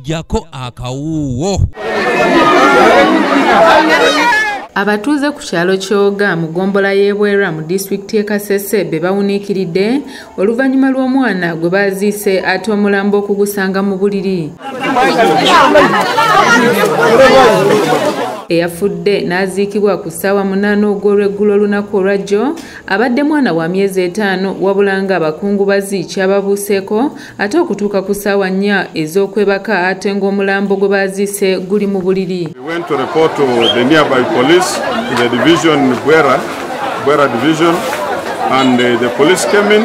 jako akawuuwo abatuuze ku kyalo kyoga mu gombola y'ebwera mu disitulikiti y'ekasese be bawuniikiridde oluvannyuma lw'omwana gwe baaziise ate omulambo okugusanga mu buliri eyafudde n'aziikibwa ku ssaawa munaana ogw'olweggulo olunaku olwajjo abadde mwana wa myezi etaano wabula ng'abakungubazi kyababuuseeko ate okutuuka ku ssaawa nnya ez'okwebaka ate ng'omulambo gwe baaziise guli mu buliri And uh, the police came in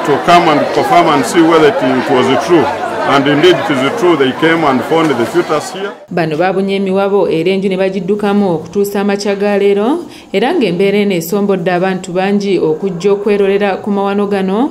to come and confirm and see whether it, it was true. And indeed it is true they came and found the fetus here. Bano babunye emiwabo era enju ne bagiddukamu okutuusa amakya ga leero era ng'embeera eno esombodde abantu bangi okujja okwerolera ku mawano gano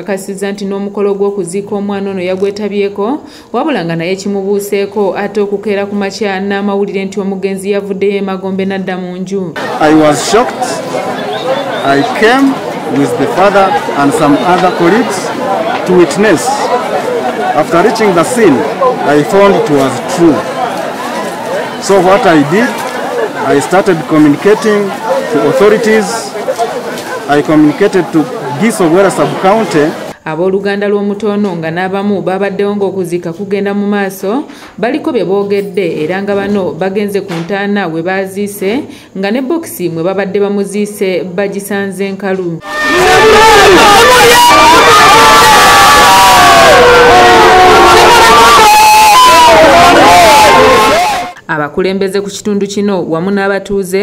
kakasiza nti n'omukolo gw'okuziika omwana ono yagwetabyeko wabula nga naye kimubuuseeko ate okukeera ku makya n'amawulire nti omugenzi yavuddeyo emagombe n'adda mu nju So what I did, I started communicating to authorities I communicated to Giso Gwera sub-county Abooluganda lw'omutoono nga n'abamu baabaddewo ng'okuziika kugenda mu maaso baliko bye boogedde era nga bano bagenze ku ntaana we baaziise nga ne bokisi mwe babadde bamuziise bagisanze nkalu abakulembeze ku kitundu kino wamu n'abatuuze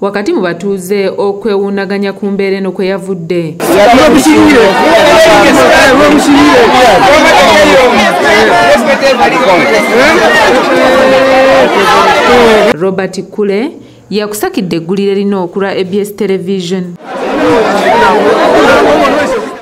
wakati mu batuuze okwewuunaganya ku mbeera eno kwe yavudde robert kule yakusakidde eggulire lino okulwa abs television